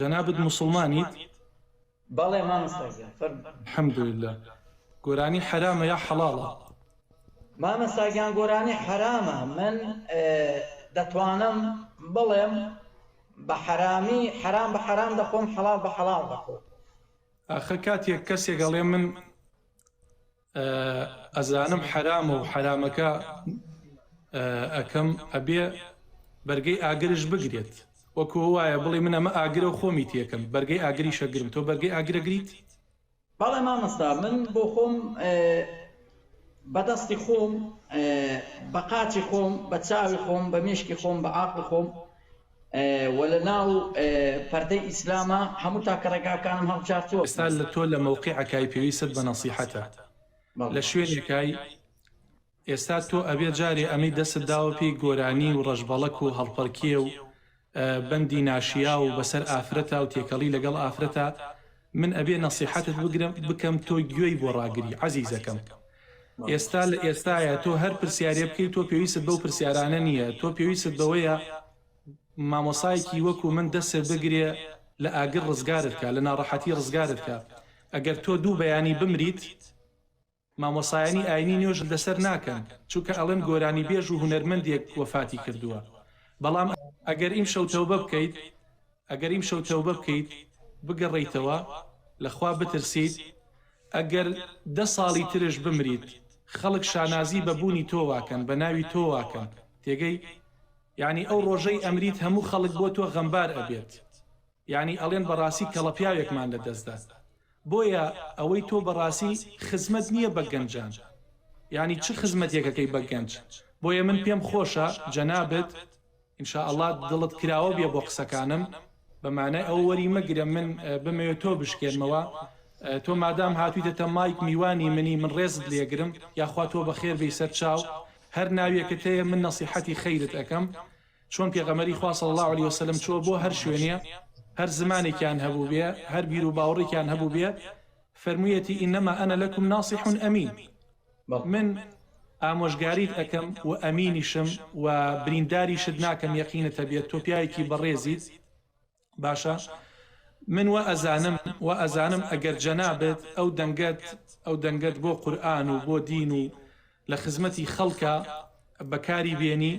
جەنابت موسڵمانیت؟ بەڵێ مامۆستا گیان فەرموو. الحمدللە گۆرانی حەرامە یا حەڵاڵە؟ مامۆستا گیان گۆرانی حەرامە من دەتوانم بڵێم بە حەرامی حەرام بە حەرام دەخۆم حەڵاڵ بە حەڵاڵ دەخۆم. ئاخە کاتێک کەسێک ئەڵێ من. ئەزانم حەرامە و حەرامەکە ئەکەم ئەبێ بەرگەی ئاگرش بگرێت وەکو وایە بڵێ من ئەمە ئاگرە و خۆمی تێکەم بەرگەی ئاگری شەگرم تۆ بەرگەی ئاگرەگریت بەڵێ مامۆستا من بۆ خۆم بە دەستی خۆم بە قاچی خۆم بە چاوی خۆم بە مێشکی خۆم بە عاقڵی خۆم وە لە ناو پەردەی ئیسلامە هەموو تاکە ڕێگاکانم هەڵبژارتووە. ئێستا لە تۆ لە مەوقیعەکای پێویستت بە نەسیحەتە لە شوێنێکای ئێستا تۆ ئەبێ جارێ ئەمەی دەستت داوە پێی گۆرانی و ڕەشبەڵەک و هەڵپەرکێ و بەندی ناشیاو و بەسەر ئافرەتا و تێکەڵی لەگەڵ ئافرەتا من ئەبێ نەسیحەتت بگرم بکەم تۆ گوێی بۆ ڕاگری عەزیزەکەم ئێستا لە ئێستایە تۆ هەر پرسیارێ بکەی تۆ پێویست بەو پرسیارانە نییە تۆ پێویست بەوەیە مامۆسایەکی وەکو من دەسێ بگرێ لە ئاگر ڕزگارت کا لە ناڕەحەتی ڕزگارت کا ئەگەر تۆ دوو بەیانی بمریت مامۆسایانی ئاینی نوێژت لەسەر ناکەن چونکە ئەڵێن گۆرانی بێژ و هونەرمەندێک وەفاتی کردووە بەڵام ئەگەر ئیمشەو تەوبە بکەیت ئەگەر ئیمشەو تەوبە بکەیت بگەڕێیتەوە لە خوا بترسیت ئەگەر دە ساڵی ترش بمریت خەڵک شانازی بە بوونی تۆواکەن بە ناوی تۆواکەن تێگەی یانی ئەو ڕۆژەی ئەمریت هەموو خەڵک بۆ تۆ غەمبار ئەبێت یانی ئەڵێن بەڕاسی کەڵە پیاوێکمان لە دەست دا بۆیە ئەوەی تۆ بەڕاسی خزمەت نیە بە گەنجان یانی چ خزمەتێکەکەی بە گەنج بۆیە من پێم خۆشە جەنابت ان شاء اللە دڵت کراوە بێ بۆ قسەکانم بە مانای ئەوە وەری مەگرە من بمەوێ تۆ بشکێنمەوە تۆ مادام هاتویتەتە مایک میوانی منی من ڕێزت لێگرم یاخوا تۆ بەخێر بێی سەر چاو هەر ناویەکت هەیە من نەسیحەتی خەیرت ئەکەم چۆن پێغەمبەری خوا صلی اللە علیە وسلم چووە بۆ هەر شوێنێ هەر زمانێکیان هەبووبێ هەر بیرو باوڕێکیان هەبووبێ فەرموویەتی انما انا لکم ناصح امین من ئامۆژگاریت ئەکەم و ئەمینیشم و برینداریشت ناکەم یەقینت هەبێت تۆ پیاوێکی بەڕێزیت باشە من وا ئەزانم وا ئەزانم ئەگەر جەنابت ئەو دەنگەت ئەو دەنگەت بۆ قورئان و بۆ دین و لە خزمەتی خەڵکە بەکاری بێنی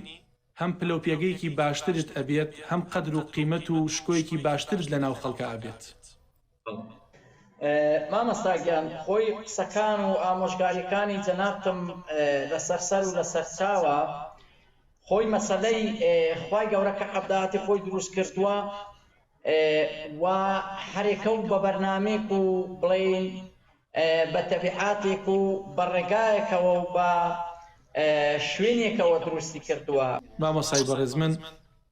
هەم پلە و پێگەیەکی باشترت ئەبێت هەم قەدر و قیمەت و شکۆیەکی باشترت لە ناو خەڵکە ئەبێت مامۆستا گیان خۆی قسەکان و ئامۆژگاریەکانی جەنابتم لەسەر سەر و لەسەر چاوە خۆی مەسەلەی خوای گەورە کە عەبداتی خۆی دروست کردووە و حەرێکە و بە بەرنامەیەک و بڵێین بە تەبیعاتێک و بە ڕێگایەکەوە و بە شوێنێکەوە دروستی کردووە. مامۆستای بەڕێز من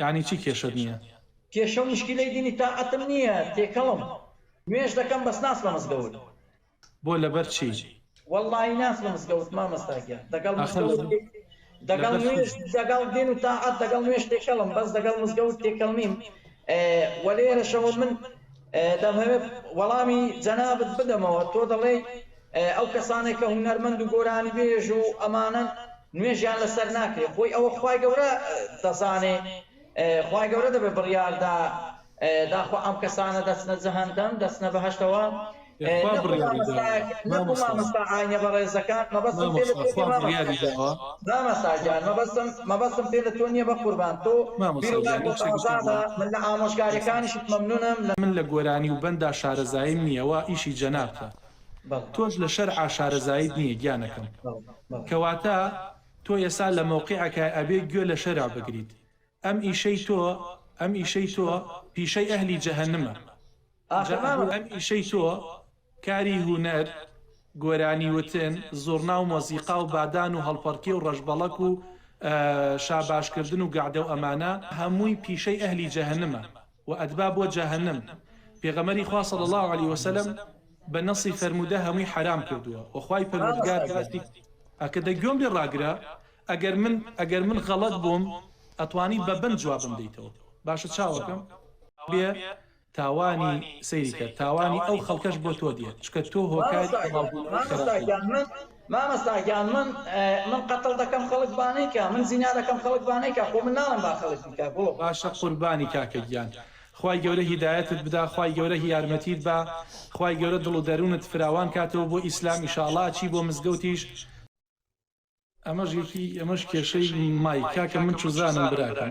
یەعنی چی کێشەت نیە؟ کێشە و مشکیلەی دینی تاقەتم نیە تێکەڵم نوێژ دەکەم بەس ناچمە مزگەوت. بۆ لەبەر چی؟ وەڵاهی ناچمە مزگەوت مامۆستا گیان دەگەڵ ئاخە مزگەوت لەبە دەگەڵ لەبەر نوێژ چی؟ دەگەڵ دین و تاعەت دەگەڵ نوێژ تێکەڵم بەس دەگەڵ مزگەوت تێکەڵ نیم وە لێرەشەوە من دەمهەوێ وەڵامی جەنابت بدەمەوە تۆ دەڵێی ئەو کەسانەی کە هونەرمەند و گۆرانیبێژ و ئەمانەن نوێژیان لەسەر ناکرێ خۆی ئەوە خوای گەورە دەزانێ خوای گەورە دەبێ بڕیاردا داخوا ئەم کەسانە دەچنە جەهەندەم دەچنە بەهەشتەوە نەکو مامۆستا ئاینە بەڕێزەکان مەبەستم پێ لە تۆ مامۆستا گیان مەبەستم مەبەستم پێ لە تۆ نییە بە قوربان تۆ من لە ئامۆژگاریەکانیشت مەمنونم من لە گۆرانی و بەندا شارەزاییم نییە وا ئیشی جەنابتە تۆش لە شەرعا شارەزاییت نیە گیانەکەم کەواتە تۆ یەسا لە مەوقیعەکای ئەبێ گوێ لە شەرع بگریت ئەم ئیشەی تۆ ئەم ئیشەی تۆ پیشەی ئەهلی جەهەنمە جا ئەبوو ئەم ئیشەی تۆ کاری هونەر گۆرانی وتن زوڕنا و مۆزیقا و بادان و هەڵپەڕکێ و ڕەشبەڵەک و شاباشکردن و گەعدە و ئەمانە هەمووی پیشەی ئەهلی جەهەنمە و ئەدبا بۆ جەهەنم، پێغەمبەری خوا صلی اللە علیە وسلم بە نەصی فەرموودە هەمووی حەرام کردووە و خوای پەروەردگار باسی ئەکە دە گوێم لێ ڕاگرە ئەگەر من ئەگەر من غەڵەت بووم ئەتوانی بە بەند جوابم دەیتەوە باشە چاوەکەم بێ تاوانی سەیری کە تاوانی ئەو خەڵکەش بۆ تۆ دێت چکە تۆ هۆکاری بڵاو بوونەوەی خراپی. مامۆستا گیان من من قەتڵ دەکەم خەڵک بانەیکا من زینا دەکەم خەڵک بانەیکا خۆ من ناڵێم با خەڵک بیکا گوڵم. باشە قوربانی کاکە گیان خوای گەورە هیدایەتت بدا خوای گەورە هی یارمەتیت با خوای گەورە دڵ و دەرونت فراوان کاتەوە بۆ ئیسلام ئیشاڵا ئەچی بۆ مزگەوتیش ئەمەش یەکی ئەمەش کێشەی مایک کاکە من چوزانم براکەم.